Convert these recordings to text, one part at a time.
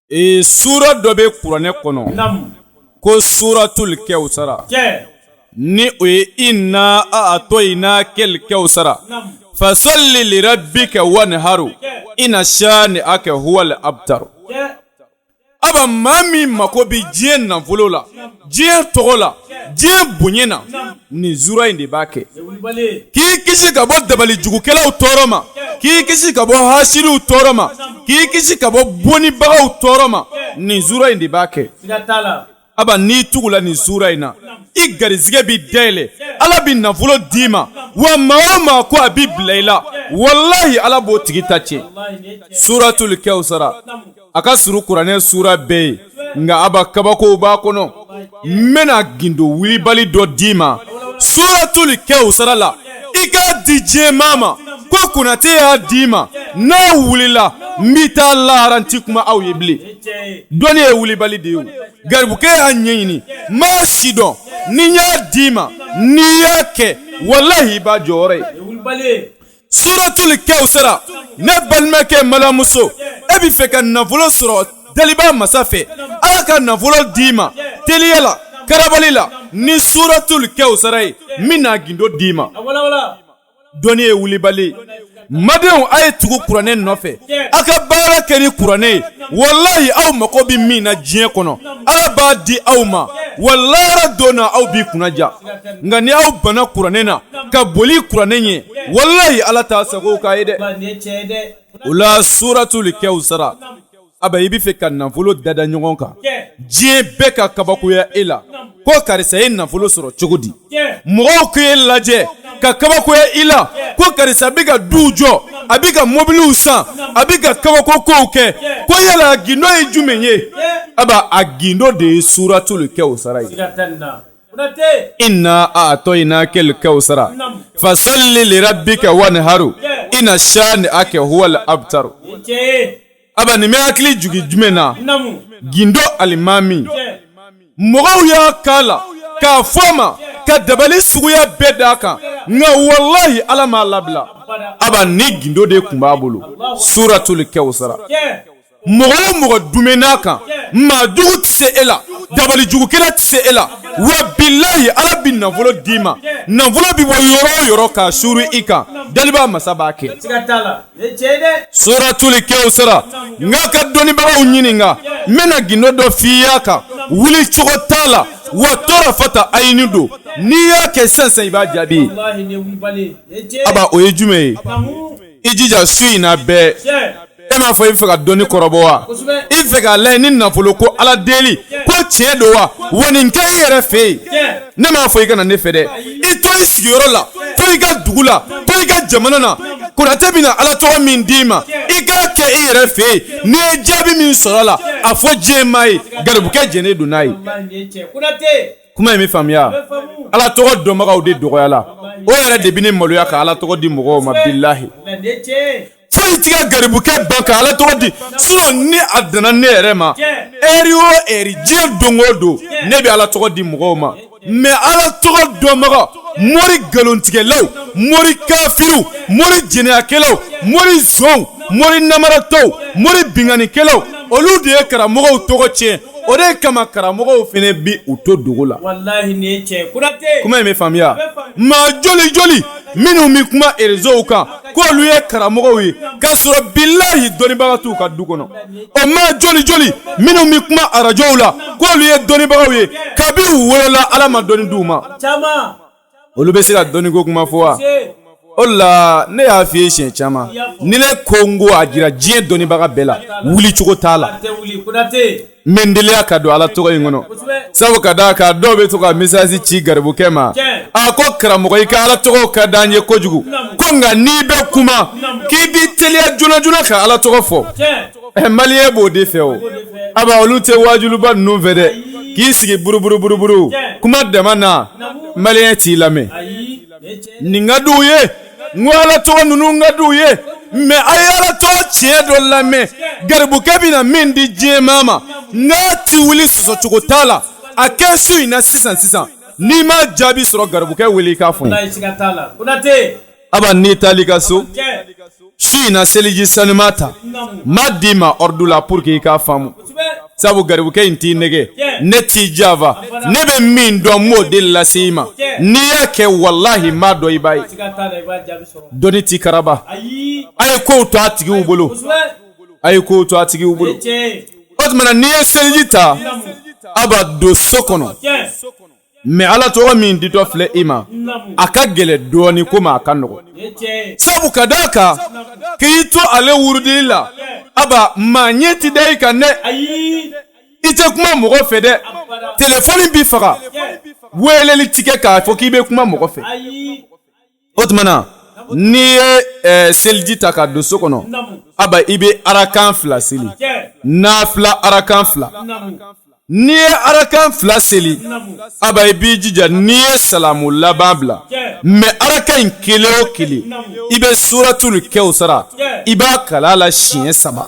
Ee sura dɔ bɛ kuranɛ kɔnɔ ko suratul kawusara ni o ye inna a'tayna kal kawusara fasalli li rabbika wanharu inna shani'aka huwal abtaru aba maa min mako bɛ diɲɛ nafolo la diɲɛ tɔgɔ la diɲɛ bonya na nin sura in de b'a kɛ k'i kisi ka bɔ dabalijugukɛlaw tɔɔrɔ ma k'i kisi ka bɔ hasiriw tɔɔrɔ ma k'i kisi ka bɔ bonibagaw tɔɔrɔ ma nin sura in de b'a kɛ aba n'i tugula nin sura in na i garisɛgɛ bɛ dayɛlɛ ala bɛ nafolo d'i ma wa maa o maa ko a bɛ bila i la walahi ala b'o tigi ta tiɲɛ suratul kawusara a ka surun kuranɛ sura bɛɛ ye nka aba kabakow b'a kɔnɔ n bɛna gindo wulibali dɔ d'i ma suratul kawusara la i k'a di diɲɛ maa ma ko konate y'a d'i ma n'a wulila n b'i taa lahara n ti kuma aw ye bilen dɔnni ye wulibali de ye o garibukɛ y'a ɲɛɲini n b'a sidɔn ni n y'a d'i ma n'i y'a kɛ walahi i b'a jɔyɔrɔ ye suratul kawusara ne balimakɛ n balimamuso e bɛ fɛ ka nafolo sɔrɔ daliba masa fɛ ala ka nafolo d'i ma teliya la karabali la ni suratul kawusara ye n bɛn'a gindo d'i ma dɔnni ye wulibali n badenw a ye tugu kuranɛ nɔfɛ a ka baara kɛ ni kuranɛ ye walayi aw mago bɛ min na diɲɛ kɔnɔ ala b'a di aw ma wa lahara don na aw bi kunnaja nka ni aw banna kuranɛ na ka boli kuranɛ ɲɛ walayi ala t'a sago k'a ye dɛ o la suratul kawusara aba i bɛ fɛ ka nafolo dada ɲɔgɔn kan diɲɛ bɛɛ ka kabakoya e la ko karisa ye nafolo sɔrɔ cogo di mɔgɔw k'e lajɛ ka kabakoya i la ko karisa bɛ ka duw jɔ a bɛ ka mobiliw san a bɛ ka kabako kow kɛ ko yala gindo ye jumɛn ye aba a gindo de ye suratul kawusara ye Inna a'tayna kal kawusara fasalli li rabbika wanharu inna shani'aka huwal abtaru aba nin bɛ hakili jigin jumɛn na gindo alimami mɔgɔw y'a k'a la k'a fɔ a ma ka dabali suguya bɛɛ d'a kan nka walahi ala m'a labila aba nin gindo de tun b'a bolo suratul kawusara mɔgɔ o mɔgɔ duumɛn'a kan maa jugu tɛ se e la dabalijugukɛla tɛ se e la wa bilayi ala bɛ nafolo d'i ma nafolo bɛ bɔ yɔrɔ o yɔrɔ k'a suuru i kan daliba masa b'a kɛ suratul kawusara n k'a ka dɔnnibagaw ɲininka n bɛna gindo dɔ f'i y'a kan wuli cogo t'a la wa tarafata ayini don n'i y'a kɛ sisan sisan i b'a jaabi ye aba o ye jumɛn ye i jija su in na bɛɛ e m'a fɔ i fɛ ka dɔnni kɔrɔbɔ wa i fɛ k'a layɛ ni nafolo ko ala deli ko tiɲɛ don wa wa nin kɛ i yɛrɛ fɛ yen ne m'a fɔ i ka na ne fɛ dɛ i to i sigiyɔrɔ la to i ka dugu la to i ka jamana na konate bɛna ala tɔgɔ min d'i ma i k'a kɛ i yɛrɛ fɛ yen n'i ye jaabi min sɔrɔ a la a fɔ diɲɛ maa ye garibukɛ jɛnnen don n'a ye kuma in bɛ faamuya ala tɔgɔ dɔnbagaw de dɔgɔyala o yɛrɛ de bɛ ne maloya ka ala tɔgɔ di mɔgɔw ma bilahi foyi t'i ka garibukɛ ban ka Ala tɔgɔ di sinon ni a danna ne yɛrɛ ma heure o heure diɲɛ don o don ne bɛ Ala tɔgɔ di mɔgɔw ma mais Ala tɔgɔ dɔnbaga mori nkalontigɛlaw mori kafiriw mori jɛnɛyakɛlaw mori nsonw mori namaratɔw mori binkannikɛlaw olu de ye karamɔgɔw tɔgɔ tiɲɛ o de kama karamɔgɔw fana bi u to dogo la walahi nin ye tiɲɛ ye Konate kuma in bɛ faamuya maa joli joli minnu bɛ kuma reseau kan k'olu ye karamɔgɔw ye k'a sɔrɔ bilahi dɔnnibaga t'u ka du kɔnɔ o maa joli joli minnu bɛ kuma arajow la k'olu ye dɔnnibagaw ye kabi u wolola ala ma dɔnni d'u ma olu bɛ se ka dɔnniko kuma fɔ wa o la ne y'a f'i ye siɲɛ caman ni ne ko n ko a jira diɲɛ dɔnnibaga bɛɛ la wuli cogo t'a la Mɛ n teliya ka don ala tɔgɔ in kɔnɔ sabu ka da a kan dɔw bɛ to ka message ci garibukɛ ma a ko karamɔgɔ i ka ala tɔgɔ ka di an ye kojugu ko nka n'i bɛ kuma k'i b'i teliya joona joona ka ala tɔgɔ fɔ maliyɛn b'o de fɛ o aba olu tɛ waajuliba ninnu fɛ dɛ k'i sigi buruburuburuburu kuma dama na maliyɛn t'i lamɛn nin ka di u ye n ko ala tɔgɔ ninnu ka di u ye mɛ a ye ala tɔgɔ tiɲɛ dɔ lamɛn garibukɛ bɛna min di diɲɛ maa ma n'a ti wuli sɔsɔcogo t'a la a kɛ su in na sisan sisan n'i ma jaabi sɔrɔ garibukɛ wele i k'a fɔ n ye aba n'i taal'i ka so su in na seliji sanuma ta n b'a d'i ma ordre la pour que i k'a faamu sabu garibukɛ in t'i nɛgɛn ne t'i janfa ne bɛ min dɔn n b'o de lase i ma n'i y'a kɛ walahi n b'a dɔn i b'a ye dɔnni ti karaba a ye ko to a tigiw bolo a ye ko to a tigiw bolo o tuma na n'i ye seliji ta aba don so kɔnɔ mɛ ala tɔgɔ min ditɔ filɛ i ma a ka gɛlɛn dɔɔnin ko ma a ka nɔgɔn sabu ka da a kan k'i to ale wurudi la aba maa ɲɛ tɛ da i kan dɛ i tɛ kuma mɔgɔ fɛ dɛ telefɔni bɛ faga weleli ti kɛ k'a fɔ k'i bɛ kuma mɔgɔ fɛ o tuma na n'i ye eh, seliji ta ka don so kɔnɔ aba i bɛ arakan fila seli nafila arakan fila n'i ye arakan fila seli aba i b'i jija n'i ye salamu laban bila mɛ arakan in kelen o kelen i bɛ suratul kawsara i b'a kalan a la siɲɛ saba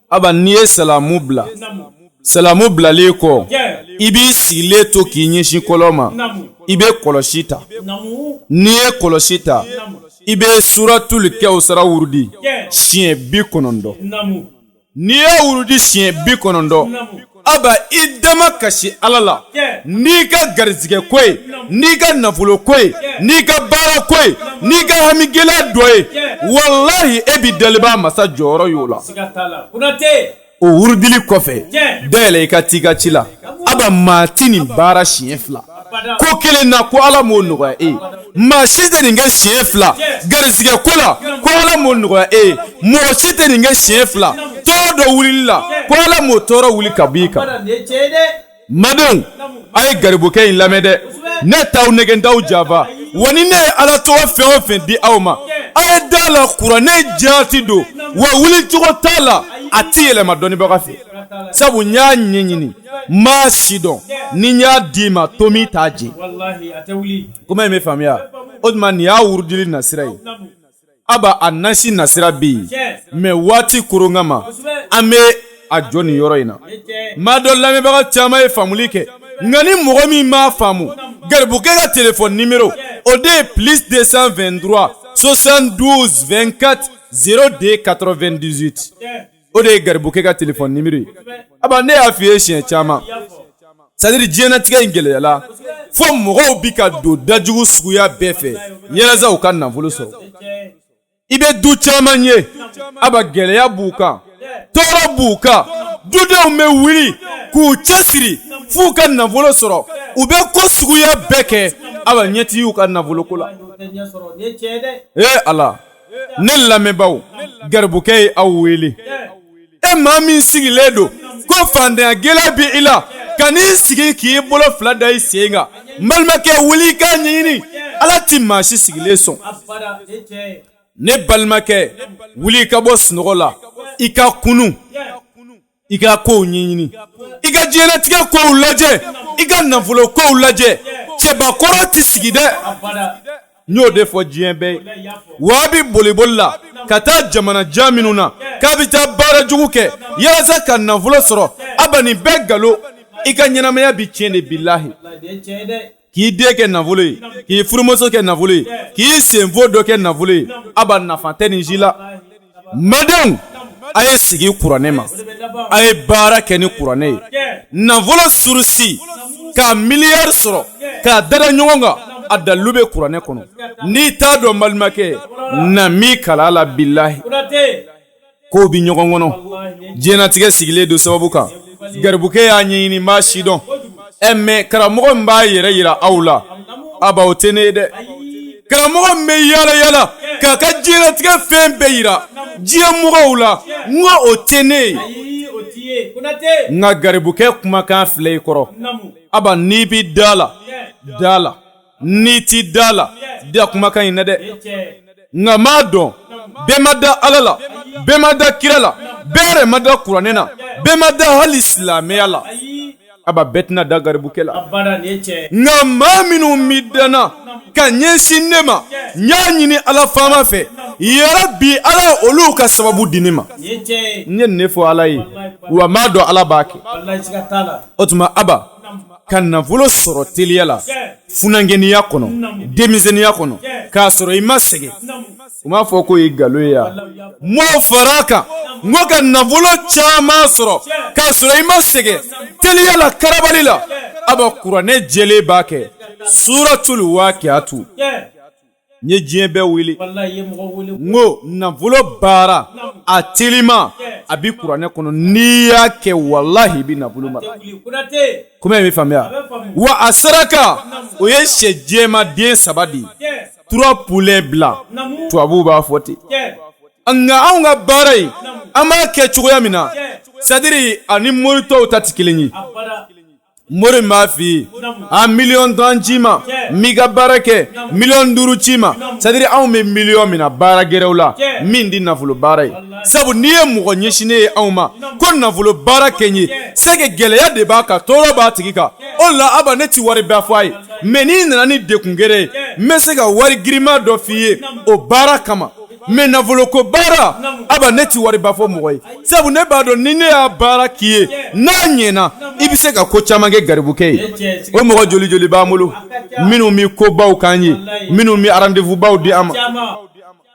Aba n'i ye salamu bila salamu bilalen kɔ i b'i sigilen to k'i ɲɛsin kɔrɔn ma i bɛ kɔlɔsi ta n'i ye kɔlɔsi ta i bɛ suratul kawsara wurudi siɲɛ bi kɔnɔntɔn n'i y'a wurudi siɲɛ bi kɔnɔntɔn aba i damakasi ala la n'i ka garisigɛ ko ye n'i ka nafolo ko ye n'i ka baara ko ye n'i ka hami gɛlɛya dɔ ye walayi e bɛ dalibaa masa jɔyɔrɔ y'o la o wurudili kɔfɛ dayɛlɛ i ka ci i ka ci la aba maa tɛ nin baara siɲɛ fila ko kelen na ko ala m'o nɔgɔya e ye maa si tɛ nin kɛ siɲɛ fila garisigɛ ko la ko ala m'o nɔgɔya e ye mɔgɔ si tɛ nin kɛ siɲɛ fila tɔɔrɔ dɔ wulili la ko ala m'o tɔɔrɔ wuli ka b'i kan n badenw a ye garibukɛ in lamɛn dɛ ne t'aw nɛgɛn n t'aw janfa wa ni ne ye ala tɔgɔ fɛn o fɛn di aw ma a ye da a la kuranɛ jaati don wa wuli cogo t'a la a ti yɛlɛma dɔnnibaga fɛ sabu n y'a ɲɛɲini n b'a sidɔn ni n y'a d'i ma tɔɔ min t'a jɛ kuma in bɛ faamuya o tuma nin y'a wurudili nasira ye aba a nasi nasira bɛ yen mɛ waati koron kama an bɛ a jɔ nin yɔrɔ in na n b'a dɔn lamɛnbaga caman ye faamuli kɛ nka ni mɔgɔ min m'a faamu garibukɛ ka telefɔni nimero o de ye plus 223 72 24 02 98 o de ye garibukɛ ka telefɔni nimero ye aba ne y'a fɔ i ye siɲɛ caman sadiri diɲɛnatigɛ in gɛlɛyala fo mɔgɔw bɛ ka don dajugu suguya bɛɛ fɛ yalasa u ka nafolo sɔrɔ i bɛ du caman ye aba gɛlɛya b'u kan tɔɔrɔ b'u kan dudenw bɛ wuli k'u cɛsiri f'u ka nafolo sɔrɔ u bɛ ko suguya bɛɛ kɛ aba ɲɛ ti y'u ka nafoloko la ee ala ne lamɛnbaaw garibukɛ ye aw wele e maa min sigilen don ko faantanya gɛlɛya bɛ i la kan'i sigi k'i bolo fila da i sen kan n balimakɛ wuli i k'a ɲɛɲini ala ti maa si sigilen sɔn ne balimakɛ wuli i ka bɔ sunɔgɔ la i ka kunun i ka kow ɲɛɲini i ka diɲɛlatigɛ kow lajɛ i ka nafolo kow lajɛ cɛbakɔrɔ tɛ sigi dɛ n y'o de fɔ diɲɛ bɛɛ ye waa bɛ boliboli la ka taa jamana jan minnu na k'a bɛ taa baara jugu kɛ yalasa ka nafolo sɔrɔ aba nin bɛɛ galo i ka ɲɛnamaya bɛ tiɲɛ de bilahi k'i den kɛ nafolo ye k'i furumuso kɛ nafolo ye k'i senfo dɔ kɛ nafolo ye aba nafa tɛ nin si la n badenw a ye sigi kuranɛ ma a ye baara kɛ ni kuranɛ ye nafolo surusi ka miliyari sɔrɔ k'a dada ɲɔgɔn kan a dalilu bɛ kuranɛ kɔnɔ n'i t'a dɔn balimakɛ na n b'i kalan a la bilahi ko bɛ ɲɔgɔn kɔnɔ diɲɛnatigɛ sigilen don sababu kan garibukɛ y'a ɲɛɲini n b'a sidɔn ɛ mais karamɔgɔ min b'a yɛrɛ yira aw la aba o tɛ ne ye dɛ karamɔgɔ min bɛ yaala yaala k'a ka diɲɛnatigɛ fɛn bɛɛ yira diɲɛ mɔgɔw la n ko o tɛ ne ye nka garibukɛ kumakan filɛ i kɔrɔ aba n'i bɛ da a la da a la n'i tɛ da a la da kumakan in na dɛ nka n b'a dɔn bɛɛ ma da ala la bɛɛ ma da kira la bɛɛ yɛrɛ ma da kuranɛ na bɛɛ ma da hali silamɛya la aba bɛɛ tɛna da garibukɛ la nka maa minnu bɛ danna ka ɲɛsin ne ma n y'a ɲini ala faama fɛ yarabi ala ye olu ka sababu di ne ma n ye nin de fɔ ala ye wa n b'a dɔn ala b'a kɛ o tuma aba ka nafolo sɔrɔ teliya la funankɛninya kɔnɔ denmisɛnninya kɔnɔ k'a sɔrɔ i ma sɛgɛn u b'a fɔ k'o ye nkalon ye yan mɔgɔw fara a kan n ko ka nafolo caman sɔrɔ k'a sɔrɔ i ma sɛgɛn teliya la karabali la aba kuranɛ jɛlen b'a kɛ suratulu wakiyatu n ye diɲɛ bɛɛ wele n ko nafolo baara a telima a bɛ kuranɛ kɔnɔ n'i y'a kɛ walahi i bɛ nafolo mara kuma in bɛ faamuya wa a saraka o ye syɛ jɛman den saba de ye trois poulets blancs tubabuw b'a fɔ ten nka anw ka baara in an b'a kɛ cogoya min na c'est-à-dire ani mori tɔw ta tɛ kelen ye mori b'a f'i ye a miliyɔn tan ci n ma n b'i ka baara kɛ miliyɔn duuru ci n ma c'est-à-dire anw bɛ miliyɔn mina baara gɛrɛw la min tɛ nafolo baara ye sabu n'i ye mɔgɔ ɲɛsinnen ye anw ma ko nafolo baara kɛ n ye c'est que gɛlɛya de b'a kan tɔɔrɔ b'a tigi kan o la aba ne tɛ wari ba fɔ a ye mais n'i nana ni dekun gɛrɛ ye n bɛ se ka wari girinma dɔ f'i ye o baara kama mais nafolo ko baara aba ne tɛ wari ba fɔ mɔgɔ ye sabu ne b'a dɔn ni ne y'a baara k'i ye n'a ɲɛna i bɛ se ka ko caman kɛ garibukɛ ye o mɔgɔ joli joli b'an bolo minnu bɛ ko baw k'an ye minnu bɛ rendez-vous baw di an ma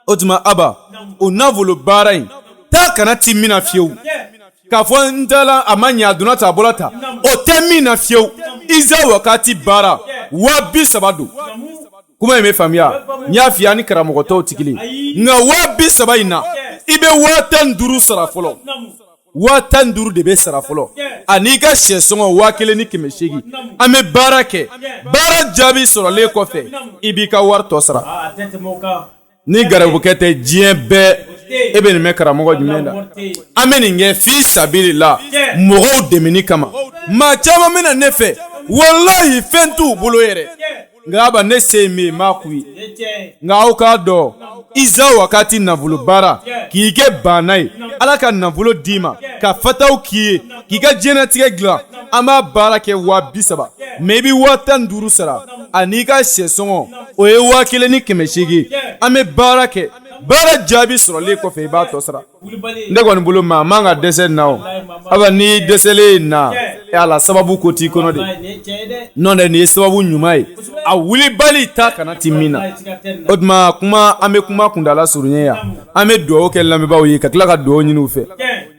o tuma aba o nafolo baara in taa ka na tɛ min na fiyewu k'a fɔ n taara a ma ɲɛ a donna tan a bɔra tan o tɛ min na fiyewu iza wakati baara waa bi saba don kuma in bɛ faamuya n y'a f'i ye an ni karamɔgɔ tɔw tɛ kelen nka waa bi saba in na i bɛ waa tan ni duuru sara fɔlɔ waa tan ni duuru de bɛ sara fɔlɔ an'i ka sɛ sɔngɔ waa kelen ni kɛmɛ seegin an bɛ baara kɛ baara jaabi sɔrɔlen kɔfɛ i b'i ka wari tɔ sara. ni garibukɛ tɛ diɲɛ bɛɛ e bɛ nin mɛn karamɔgɔ jumɛn da an bɛ nin kɛ fi sabili la mɔgɔw dɛmɛni kama maa caman bɛ na ne fɛ walayi fɛn t'u bolo yɛrɛ nka aba ne se min n b'a k'u ye nka aw k'a dɔn iza wakati nafolo baara k'i kɛ banna ye ala ka nafolo d'i ma ka fataw k'i ye k'i ka diɲɛlatigɛ dilan an b'a baara kɛ waa bi saba mɛ i bɛ waa tan duuru sara an'i ka sɛ sɔngɔ o ye waa kelen ni kɛmɛ seegin an bɛ baara kɛ baara jaabi sɔrɔlen kɔfɛ i b'a tɔ sara ne kɔni bolo maa man ka dɛsɛ na o aba n'i dɛsɛlen na e ala sababu ko t'i kɔnɔ de n'o tɛ nin ye sababu ɲuman ye a wulibali ta kana ti min na o tuma kuma an bɛ kuma kuntaala surunya yan an bɛ dugawu kɛ lamɛnbaaw ye ka tila ka dugawu ɲini u fɛ